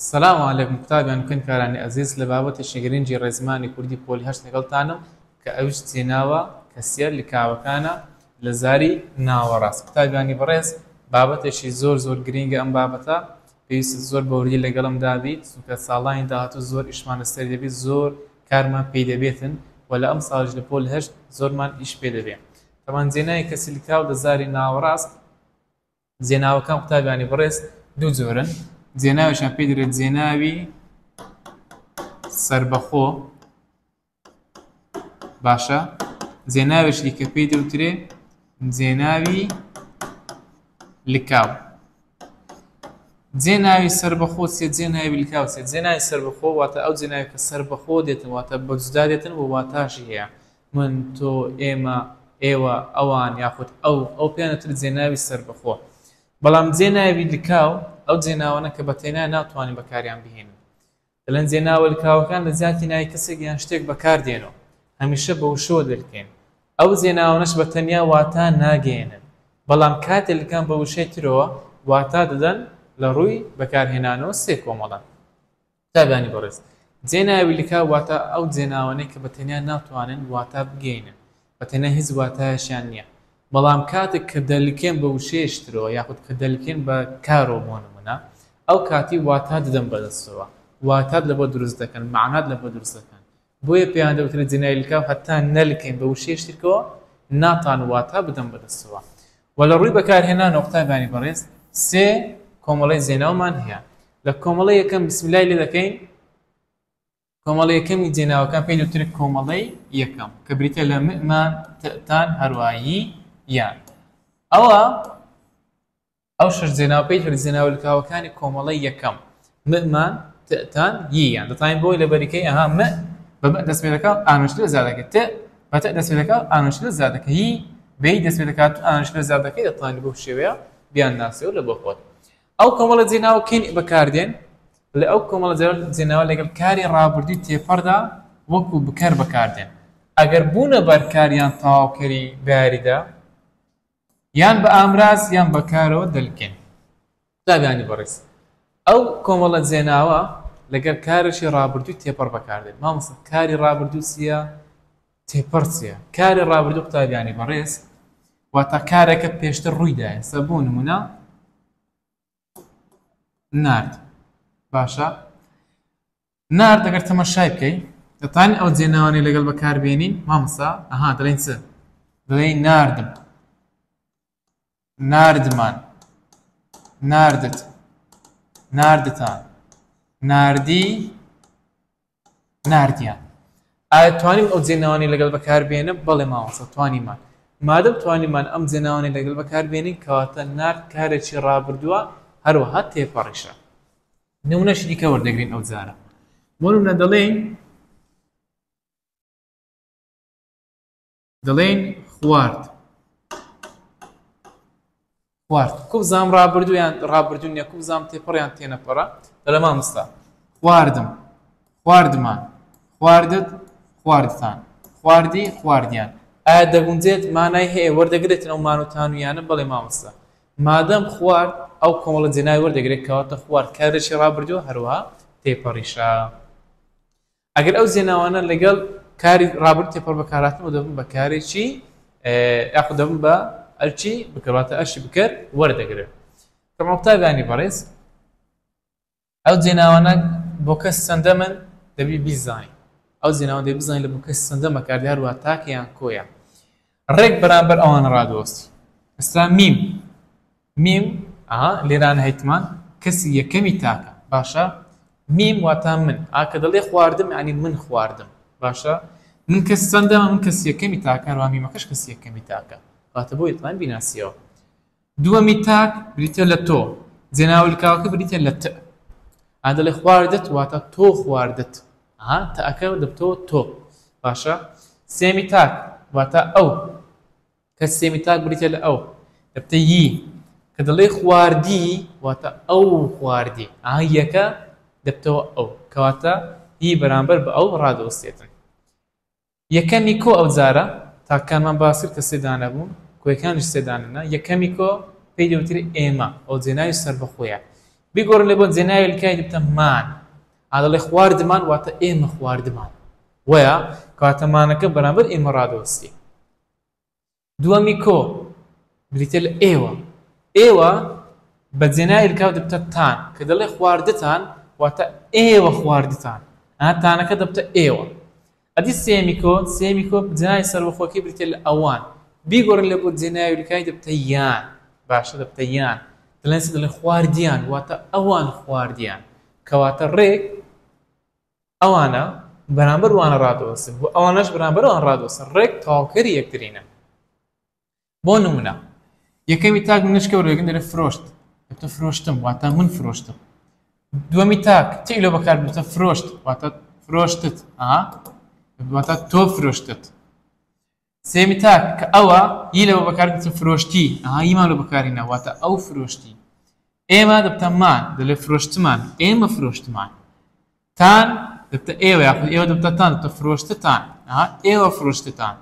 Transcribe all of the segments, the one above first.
سلام علیکم قوتابیان و خوێندکارانی ئەزیز لە بابەتێکی گرنگی ڕێزمانی کوردی پۆلی هەشت لەگەڵتانم کە ئەویش چیناوە کەسیە لکاوەکانە لە زاری ناوەڕاست قوتابیانی بەڕێز بابەتێکی زۆر زۆر گرنگە ئەم بابەتە پێویستە زۆر بە وردی لەگەڵمدا بیت چونکە ساڵانی داهاتوو زۆر ئیشمان لەسەر دەبێت زۆر کارمان پێی دەبێتن و لە ئەم ساڵیش لە پۆل هەشت زۆرمان ئیش پێ دەبێت تەمان جێناوی کەسی لکاو لە زاری ناوەڕاست جێناوەکان قوتابیانی بەڕێز دوو جۆرن جێناویشان پێ دەێت جێناوی سربەخۆ باشە جێناوێکی کە پێی دەوترێ جێناوی لکاو جێناوی سربەخۆ سێ جێناوی لکاو سێ جێناوی سربەخۆ واتە ئەو جێناوی کە سربەخۆ دێتن واتە بەجدا دێتن و واتاشی هەیە من، تۆ، ئێمە، ئێوە، ئەوان، یاخود ئەو، ئەو پێیان دەوترێت جێناوی سەربەخۆ. بەڵام جێناوی لکاو ئەو جێناوانەن کە بەتەینایان ناتوانین بەکاریان بهێنین. دەڵێن جێناوە لکاوەکان لە جیاتی ناوی کەسێک یان شتێک بەکار دێن و هەمیشە بە وشەوە دەلکێن. ئەو جێناوانەش بە تەنیا واتا ناگەیەنن، بەڵام کاتێ لکان بە وشەی ترەوە واتا دەدەن لە ڕووی بەکارهێنانەوە سێ کۆمەڵەن. قوتابیانی بەڕێز، جێناوی لکاو واتە ئەو جێناوانەی کە بە تەنیا ناتوانن واتا بگەینن، بە تەنیا هیچ واتایەکیان نییە، بەڵام کاتێک کە دەلکێن بە وشەیەک ترەوە یاخود کە دەلکێن بە کارەوە بۆ نموونە، ئەو کاتی واتا دەدەن بە دەستەوە، واتات لەبۆ دروست دەکەن، مەعنات لەبۆ دروست دەکەن، بۆیە پێیان دەوترێت جنێوی لکاو هەتا نەلکێن بە وشەیەک ترکەوە ناتان واتا بدەن بە دەستەوە وە لە ڕووی بەکارهێنانەوە قوتابیانی بەڕێز سێ کۆمەڵەی جێناومان هەیە لە کۆمەڵە یەکەم بسملای لێ دەکەین کۆمەڵە یەکەمی جێناوەکان پێی دەوترێت کۆمەڵەی یەکەم کە بریتە لە مئمان تان هەروایی یان ئەوە ئەو شەش جێناوپێی هەرجێناوە لکاوەکانی کۆمەڵەی یەکەم، م، مان، ت، تان، ی، یان، دەتوانین بۆی لەبەریکەی، ئەها، م، بە، م، دەستپێدەکات و، ئانوش، لێ زیادەکەین، ت، بە، ت، دەستپێدەکات و، ئانوش، لێ زیادەکەین، ی، بە، ی، دەستپێدەکات و، ئانوش، لێ زیادەکەین، دەتوانین بەو شێوەیە بیانناسیەوە لە بۆ خۆت. ئەو کۆمەڵە جێناوە کەی بەکاردێن؟ لە ئەو کۆمەڵە جێناوە لەگەڵ کاری ڕابردووی تێپەڕدا وەکو بکەر بەکاردێن ئەگەر بوونە بەرکار یان تەواوکەری بەیاریدا، یان بە ئامراز یان بە کارەوە دەلکێن. قوتابیانی بەڕێز، ئەو کۆمەڵە جێناوە لەگەر کارێکی ڕابردووی تێپەڕ بەکار دێت. مامۆستا کاری ڕابردوو چییە؟ تێپەڕ چییە؟ کاری ڕابردوو قوتابیانی بەڕێز، واتە کارێکە پێشتر ڕووی دایە. سە بۆ نموونە نارد باشە نارد ئەگەر تەمەشای بکەین دەتان ئەو جێناوانەی لەگەڵ بەکاربیێنین مامسا ئەها دەڵین چ دەڵێ ناردم ناردمان ناردت ناردتان ناردی ناردیان ئایا توانیم ئەو جێناوانەی لەگەڵ بەکاربێنم بەڵێ مامۆستا توانیمان مادەم توانیمان ئەم جێناوانەی لەگەڵ بەکاربێنین کەواتە نارد کارێکی ڕابردووە هەروەها تێپەڕیشە نمونەشی دیکە وەردەگرین ئەو جارە بۆ نمونە دەڵێین دەڵێن خوارد خوارد کوبزام ڕابردویان ڕابردون نیە کوبزام تێپەڕیان تێنەپەڕە دەڵێ مامستا خواردم خواردمان خواردت خواردتان خواردی خواردیان ئایا دەگونجێت مانای هەیە وەردەگرێتەوە مانوتانویانە بەڵێ مامستا مادەم خوارد ئەو کۆمەڵە جێنای وەردەگرێت کەواتە خوارد کارێکی ڕابردووە هەروە تێپەڕیشە ئەگەر ئەو زێناوانە لەگەڵ کاری ڕابرد تێپەڕ بەکارهاتنەوە دەبن بە کارێکی یاخود دەبن بە ئەرچی بکەواتە ئەرشی بکەر وەردەگرن کەمەقتابیانی بەڕێز ئەو جێناوانە بۆ کەس سندە من دەبی بیزانین ئەو جێناوە دەی بزانین لە بۆ کەس سندە مەکاردار وە تاکیان کۆیە ڕێک بەرامبەر ئەوان ڕادۆستی. ئێستا میم میم ئەها لێرانە هەیتمان کەسی یەکەمی تاکە باشە میم واتا من ئا کە دەڵێ خواردم یانی من خواردم باشە من کەس چەندەمە من کەس یەکەمی تاکە ڕامیمەکەش کەس یەکەمی تاکە واتە بۆ یتمان بیناسیەوە دووەمی تاک بریتیە لە تۆ، جێناولکاوەکە بریتیە لە تئ. ئا دەڵێ خواردت واتە تۆ خواردت، ئا تئەکە دەبتەوە تۆ. باشە سێمی تاک واتە ئەو، کە سێمی تاک بریتیە لە ئەو، دەبتە ی. کە دەڵێی خواردی واتە ئەو خواردی، ئا یەکە دەبتەوە ئەو. کەواتە ی بەرامبەر بە ئەو ڕادەوستێتن. یەکەمی کۆ ئەو جارە تاکەکانمان باس کرد کە سێ دانە بوون کۆیەکانیش سێ دانەنە یەکەمی کۆ پێی دەوترێ ئێمە ئەو جێناوی سەربەخۆیە بیگۆڕن لە بۆ جێناوی لکای دبتە مان ئا دەڵێ خواردمان واتە ئێمە خواردمان وەیە کەواتە مانەکە بەرامبەر ئێمە ڕادەوەستی دووەمی کۆ بریتیە لە ئێوە. ئێوە بە جێناوی رکاو دەبتە تان، کە دەڵێ خواردتان واتە ئێوە خواردتان، ئەها تانەکە دەبتە ئێوە. ئەدی سێیەمی کۆ، سێیەمی کۆ بە جێناوی سەربەخۆکەی بریتیە لە ئەوان. بیگۆڕین لە بۆ جێناوی رکای دەبتە یان، باشە دەبتە یان. دەڵێن چی دەڵێن خواردیان واتە ئەوان خواردیان. کەواتە رێک. ئەوانە بەرامبەر وانە ڕادەوەستن و ئەوانەش بەرامبەر ئەوان ڕادەوەستن ڕێک تەواوکەری یەکترینە بۆ نمونە یەکەمی تاک منشکە و رێگن دەرە فرۆشت ئەتە فرۆشتم واتە من فرۆشتم دووەمی تاک تی لە بەکار بتە فرۆشت واتە فرۆشتت ئا واتە تۆ فرۆشتت سێمی تاک کە ئەوە ی لەوە بەکارگرتن فرۆشتی ئەها یمان لە بەکارینە واتە ئەو فرۆشتی ئێمە دەبتە مان دەلێ فرۆشتمان ئێمە فرۆشتمان تان دەبتە ئێوە یاخود ئێوە دەبتەتان دەبتە فرۆشتتان ئەها ئێوە فرۆشتتان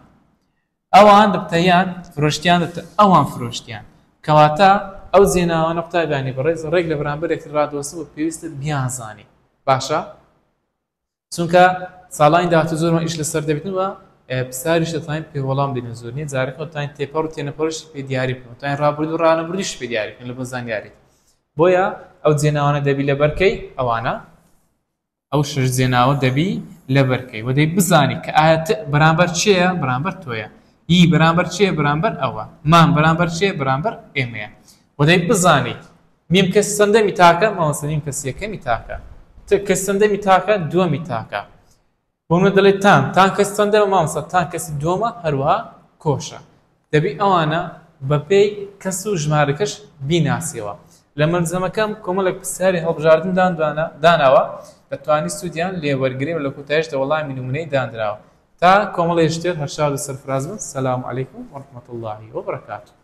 ئەوان دەبتەیان فرۆشتیان دەبتە ئەوان فرۆشتیان کەواتە ئەو زێناوانە قوتابیانی بەڕێز ڕێک لە بەرامبەرێک ڕادۆسە و پێویستت بیانزانی باشە چونکە ساڵانی داهاتوو زۆرمان ئیش لەسەر دەبێتن و پساریش دەتوانین پێ وەڵام بدەین زۆر نیە جارەکە دەتوانین تێپەڕ و تێنەپەڕشی پێ دیاری بکەن دەتوانین ڕابردوو و ڕانەبردیش پێ دیاری بکەن لە بۆ زانیاریت بۆیە ئەو جێناوانە دەبی لە بەرکەی ئەوانە ئەو شش جێناوە دەبی لە بەرکەی وەدەی بزانی کە ئاەت بەرامبەر چێە بەرامبەر تۆیە ئی بەرامبەر چێ بەرامبەر ئەوە مان بەرامبەر چێ بەرامبەر ئێمەیە وەدەی بزانیت میم کەسی چەندەمی تاکە؟ مامۆستا میم کەسی یەکەمی تاکە. ت کەسی چەندەمی تاکە؟ دووەمی تاکە. بۆ منە دەڵێت تان تان کەسی چەندەمە؟ مامۆستا تان کەسی دووەمە هەروەها کۆشە. دەبی ئەوانە بەپێی کەس و ژمارەکەش بیناسیەوە. لە مەلزەمەکەم کۆمەڵێک پرسیاری هەڵبژاردن داندوانە داناوە دەتوانی سوودیان لێ وەرگری و لە کۆتایشدا وەڵامی نموونەی داندراوە. تا کۆمەڵێ شتێر هەرشاد و سەرفراز بن سلام علیکم و رحمت اللە و برکاته.